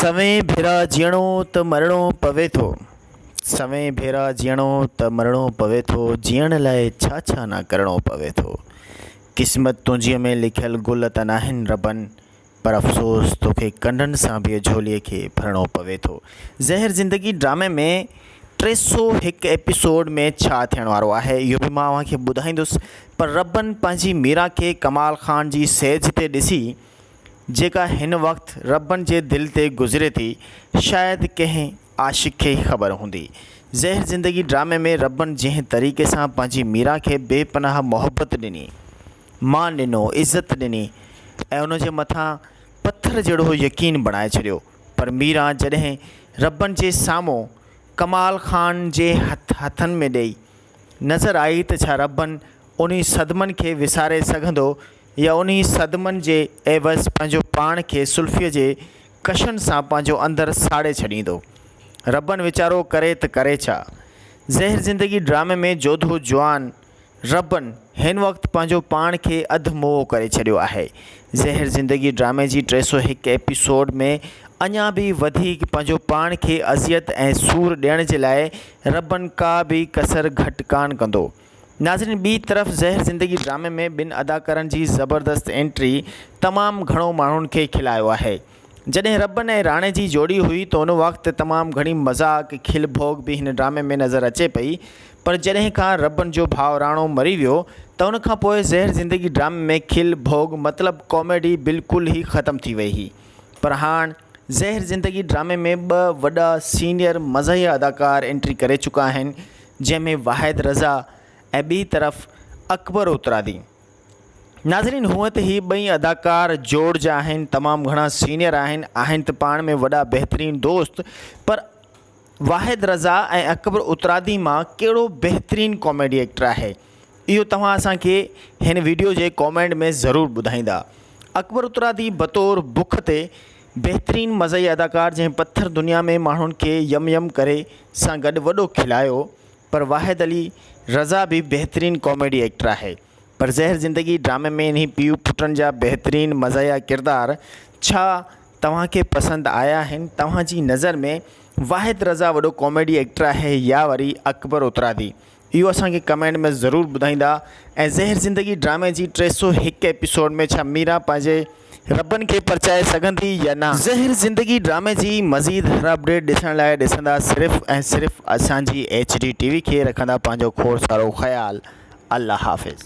سوين ڀيرا جيئڻو ته مرڻو پوي ٿو سوين ڀيرا جيئڻو ته مرڻو پوي ٿو جيئڻ لاء ڇا ڇا نه ڪرڻو پوي ٿو قسمت تنهنجيء ۾ لکيل گل ته ناهن ربن پر افسوس توکي ڪنڊن سان به جهوليء کي ڀرڻو پوي ٿو زهر زندگي ڊرامي ۾ ٽي سؤ هڪ ايپيسوڊ ۾ ڇا ٿيڻ وارو آهي اهو به مان اوهان کي ٻڌائيندس پر ربن پنهنجي ميرا کي ڪمال خان جي سيج تي ڏسي جيڪا هن وقت ربن جي دل تي گذري ٿي شايد ڪنهن عاشق کي ئي خبر هوندي. زهر زندگي ڊرامي ۾ ربن جنهن طريقي سان پنهنجي ميرا کي بي پناهه محبت ڏني، مان ڏنو، عزت ڏني ۽ ان جي مٿان پٿر جهڙو يقين بڻائي ڇڏيو پر ميرا جڏهن ربن جي سامهون ڪمال خان جي هٿ هٿن ۾ ڏئي نظر آئي ته ڇا ربن انهي صدمن کي وساري سگهندو يا انهي صدمن جي عيوض پنهنجو پاڻ کي سلفيء جي ڪشن سان پنهنجو اندر ساڙي ڇڏيندو. ربن ويچارو ڪري ته ڪري ڇا؟ زهر زندگي ڊرامي ۾ جوڌو جوان ربن هن وقت پنهنجو پاڻ کي اڌ موئو ڪري ڇڏيو آهي. زهر زندگي ڊرامي جي ٽي سؤ هڪ ايپيسوڊ ۾ اڃا به وڌيڪ پنهنجو پاڻ کي اذيت ۽ سور ڏيڻ جي لاء ربن ڪا به ڪسر گهٽ ڪانه ڪندو. ناظرين ٻي طرف زهر زندگي ڊرامي ۾ ٻن اداڪارن جي زبردست انٽري تمام گهڻو ماڻهن کي کلايو آهي. جڏهن ربن ۽ راڻي جي جوڙي هئي ته ان وقت تمام گهڻي مذاق، کل ڀوڳ به هن ڊرامي ۾ نظر اچي پئي پر جڏهن کان ربن جو ڀاء راڻو مري ويو ته ان کان پوء زهر زندگي ڊرامي ۾ کل ڀوڳ مطلب ڪاميڊي بلڪل ئي ختم ٿي وئي هئي پر هاڻ زهر زندگي ڊرامي ۾ ٻه وڏا سينيئر مزاحيه اداڪار انٽري ڪري چڪا آهن جنهن ۾ واحد رضا ۽ ٻي طرف اڪبر اترادي. ناظرين هونئن ته هي ٻئي اداڪار جوڙ جا آهن تمام گهڻا سينيئر آهن آهن ته پاڻ ۾ وڏا بهترين دوست پر واحد رضا ۽ اڪبر اترادي مان ڪهڙو بهترين ڪاميڊي ايڪٽر آهي اهو توهان اسان کي هن ويڊيو جي ڪامينٽ ۾ ضرور ٻڌائيندا اڪبر اترادي بطور بک تي بهترين مزي اداڪار جنهن پٿر دنيا ۾ ماڻهن کي يم يم ڪري سان گڏ وڏو کلايو پر واحد علي رضا به بهترين ڪاميڊي ايڪٽر آهي پر زهر زندگي ڊرامي ۾ انهي پيء پٽن جا بهترين مزاحيه ڪردار ڇا توهان کي پسند آيا آهن توهان جي نظر ۾ واحد رضا وڏو ڪاميڊي ايڪٽر آهي يا وري اڪبر اترادي اهو اسان کي ڪمينٽ ۾ ضرور ٻڌائيندا ۽ زهر زندگي ڊرامي جي ٽي سؤ هڪ ايپيسوڊ ۾ ڇا ميرا پنهنجي ربن کي پرچائي سگهندي يا نه. زهر زندگي ڊرامي جي مزيد هر اپڊيٽ ڏسڻ لاء ڏسندا صرف ۽ صرف اسان جي ايڇ ڊي ٽي وي کي رکندا پنهنجو کوڙ سارو خيال الله حافظ.